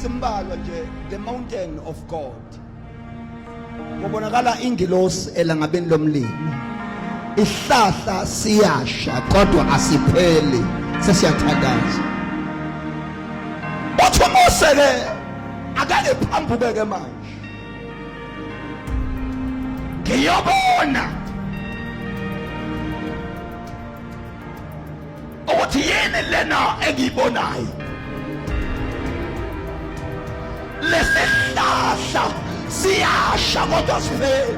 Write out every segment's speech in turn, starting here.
ezimbalwa nje the mountain of God kubonakala ingilosi elangabeni lomlimi isihlahla siyasha kodwa asipheli sesiyathandaza uthi umuse ke akake phambuke ke manje ngiyobona ukuthi yini lena engiyibonayo lesihlahla siyasha kodwa sipheli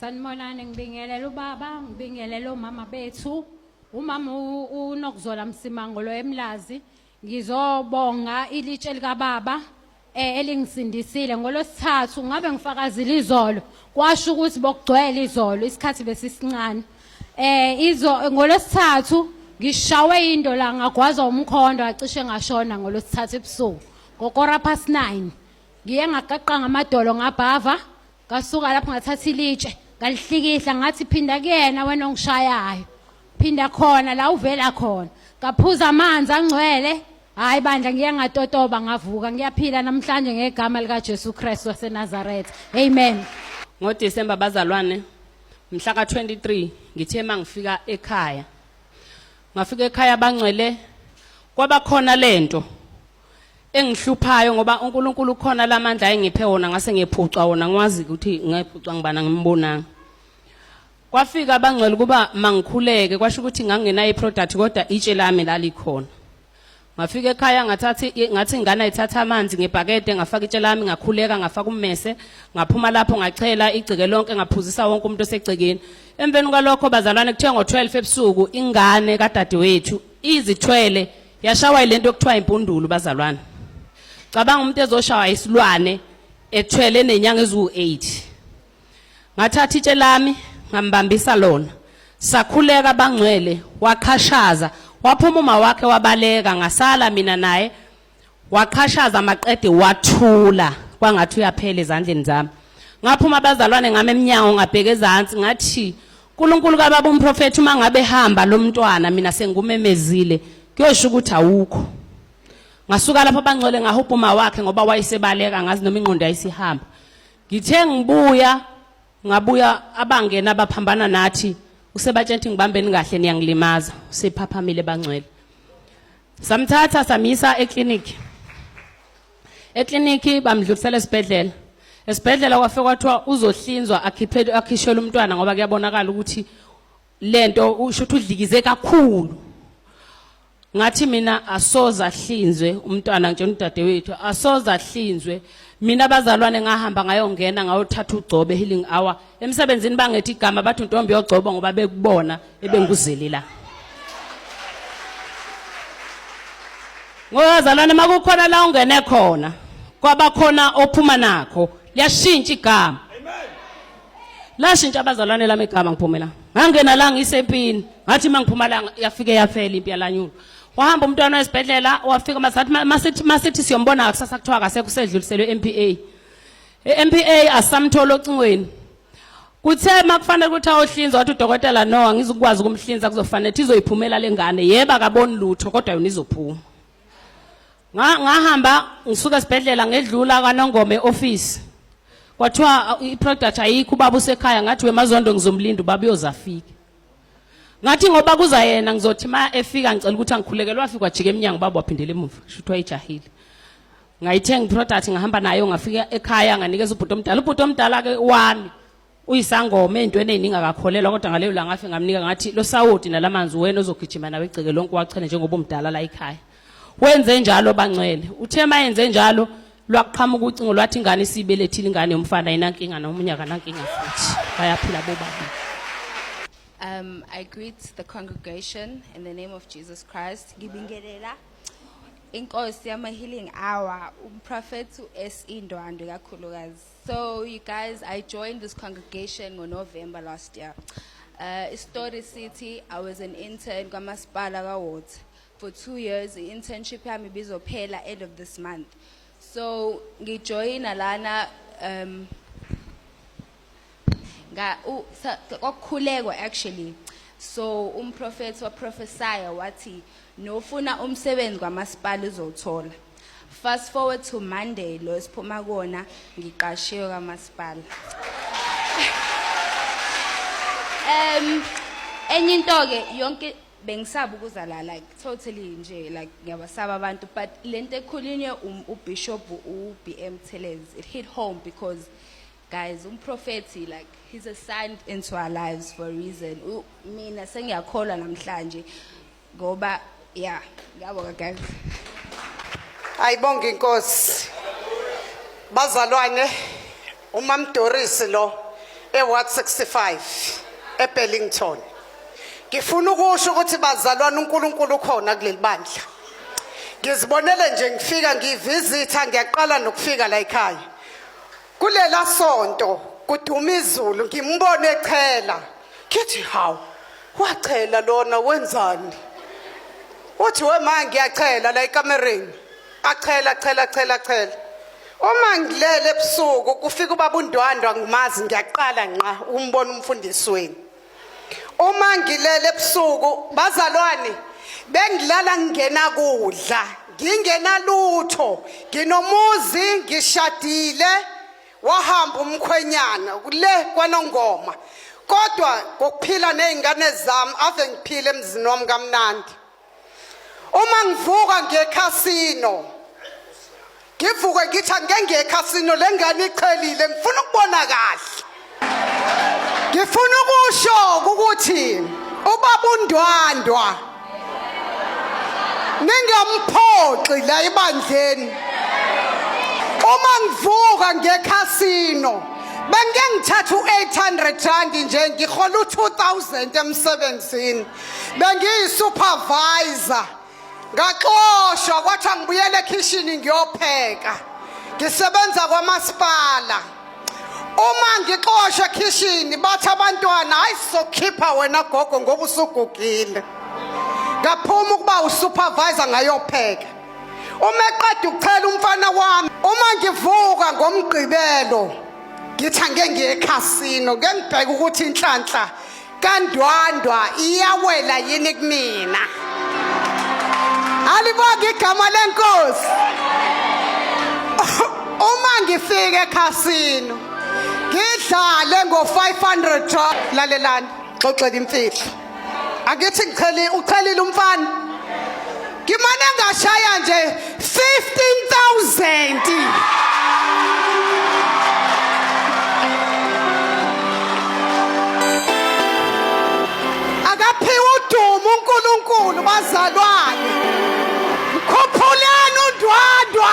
Sanibonani ngibingelela ubaba ngibingelela omama bethu umama u- unokuzola msimango lo emlazi ngizobonga ilitshe likababa eh, elingisindisile ngolosithathu ngabe ngifakazile izolo kwasho ukuthi bokugcwele izolo isikhathi besisincane eh izo ngolosithathu ngishawe into la ngagwazwa umkhondo acishe ngashona ngolosithathu ebusuku ngokora past 9 ngiye ngaqaqanga amadolo ngabhava Ngasuka lapho ngathatha ilitshe ngalihlikihla ngathi phinda kuyena wena ongishayayo. Phinda khona la uvela khona. Ngaphuza amanzi angcwele. Hayi bandla ngiye ngatotoba ngavuka ngiyaphila namhlanje ngegama lika Jesu Christ waseNazareth. Amen. NgoDecember bazalwane mhla ka-23 ngithe uma ngifika ekhaya ngafika ekhaya bangcwele kwabakhona lento engihluphayo ngoba uNkulunkulu ukhona lamandla ayengiphe wona ngase ngiyephucwa wona ngwazi ukuthi ngayephucwa ngibana ngimbonanga kwafika abangcwele kuba mangikhuleke kwasho ukuthi ngangena iproduct kodwa itshe lami lalikhona ngafika ekhaya ngathatha ngathi ingane ayithatha amanzi ngebhakede ngafaka itshe lami ngakhuleka ngafaka ummese ngaphuma lapho ngachela igceke lonke ngaphuzisa wonke umuntu osegcekeni emveni kwalokho bazalwane kuthiwa ngo-12 ebusuku ingane kadadewethu izithwele yashawa ilento okuthiwa impundulu bazalwane cabanga umuntu ezoshawa isilwane ethwele nenyanga eziwu-8 ngathatha itshe lami ngambambisa lona sakhuleka bangcwele waqhashaza waphuma uma wakhe wabaleka ngasala mina naye waqhashaza maqede wathula kwangathi uyaphela ezandleni zami ngaphuma abazalwane ngami emnyango ngabheke ezansi ngathi Nkulunkulu kababa umprofeti uma ngabe hamba lo mntwana mina sengumemezile kuyosho ukuthi awukho ngasuka lapho bangcole ngahubha uma wakhe ngoba wayesebaleka ngazi noma ingqondo yayisihamba ngithe ngibuya ngabuya abangena abaphambana nathi usebatshela ukuthi ngibambeni kahle niyangilimaza usephaphamile bangcwele samthatha samisa eclinic eklinikhi bamdlulisela esibhedlela esibhedlela kwafe kwathiwa uzohlinzwa akhiphele akhishele umntwana ngoba kuyabonakala ukuthi lento usho ukuthi udlikize kakhulu ngathi mina asoze ahlinzwe umntwana nje udadewethu asoze ahlinzwe mina bazalwane ngahamba ngayongena ngayothatha ugcobe healing hour emsebenzini bangethi igama bathi untombi yogcobo ngoba bekubona ebenguzeli la ngoyazalwane makukhona la ungene khona kwabakhona ophuma nakho liyashintsha igama lashintsha abazalwane lami igama ngiphumela ngangena la ngisempini ngathi mangiphuma la yafike yaphela impi yalanyulo wahamba umntwana wesibhedlela wafika masathi masithi masithi siyombona kusasa kuthiwa akase kusedluliselwe MPA EMPA asamthola ocingweni. Kuthe makufanele ukuthi ayohlinzwa wathi udokotela no angizukwazi ukumhlinza kuzofanele ukuthi izoyiphumela lengane. Yebo akaboni lutho kodwa yona izophuma. Ngahamba ngisuka esibhedlela ngedlula kaNongome office. Kwathiwa iproduct ayikho ubaba usekhaya ngathi wemazondo ngizomlinda ubaba uyozafika. Ngathi ngoba kuza yena ngizothi ma efika ngicela ukuthi angikhulekelwa afika wajika eminyango baba waphindela emuva. Shuthi wayijahile. ngayithenga iproduct ngahamba nayo ngafika ekhaya nganikeza ubhuti omdala ubhuti omdala ke wami uyisangoma ey'ntweni ey'ningi akakholelwa kodwa ngaleyo la ngafe ngamnika ngathi lo sawoti nalamanzi wena ozogijima nawe egceke lonke wachene njengoba umdala la ekhaya wenze njalo bangcwele uthe ma yenze njalo lwaqhamuka ucingo lwathi ingane isiyibelethile ingane yomfana yinankinga nomunye akanankinga futhi bayaphila bobabili Um, I greet the congregation in the name of Jesus Christ. Ngibingelela inkosi yama healing hour umprofethi uSE Ndwandwe kakhulukazi so you guys I joined this congregation ngo November last year uh, istory city I was an intern kwamasipala kaWater for 2 years internship yami bizophela end of this month so ngijoyina lana um nga kokukhulekwa actually so umprofethi waprofesaya wathi nofuna umsebenzi kwamasipala uzowuthola fast forward to monday lo esiphuma kona ngiqashiwe kwamasipala um enye into ke yonke bengisaba ukuzala like totally nje like ngiyabasaba abantu but lento ekhulunywe um, ubishop uBM Thelezi it hit home because Guys, umprofethi like he's assigned into our lives for a reason. U- Mina sengiyakholwa namhlanje ngoba yeah, ngiyabonga guys. ayibonge inkosi bazalwane umamdorisi lo eward 65 ebellington ngifuna ukusho ukuthi bazalwane unkulunkulu ukhona kuleli bandla ngizibonele nje ngifika ngivizitha ngiyaqala nokufika la ekhaya kulela sonto kuduma izulu ngimbone echela ngithi hawu wachela lona wenzani uthi wema ngiyachela la ekamereni achela chela chela chela uma ngilele ebusuku kufika ubaba undwandwa ngimazi ngiyaqala nqa umbona umfundisi wenu uma ngilele ebusuku bazalwane bengilala ngingena kudla ngingenalutho nginomuzi ngishadile wahamba umkhwenyana kule kwanongoma kodwa ngokuphila nezingane zami ave ngiphile emzini wami kamnandi uma ngivuka ngekhasino ngivuke ngithi angengekhasino le ngane iqhelile ngifuna ukubona kahle ngifuna ukusho ukuthi ubaba undwandwa ningamphoxi la ebandleni uma ngivuka ngekhasino bengike ngithatha u-800 rand nje ngihola u-2000 emsebenzini bengiyisupervisor ngaxoshwa kwathi angibuyele ekhishini ngiyopheka ngisebenza kwamasipala uma ngixoshwe ekhishini bathi abantwana hayi sizokhipha wena gogo ngoba usugugile ngaphuma ukuba usupervisor ngayopheka uma eqeda ukuchela umfana wami uma ngivuka ngomgqibelo ngithi angeke ngiye ekhasino ngengibheke ukuthi inhlanhla kandwandwa iyawela yini kumina alibonge igama lenkosi uma ngifika ekhasino ngidlale ngo-500 rand lalelani xoxela imfihlo angithi ngichelile uchelile umfana ngimane ngashaya nje 15000 uNkulunkulu bazalwane mkhuphuleni undwandwa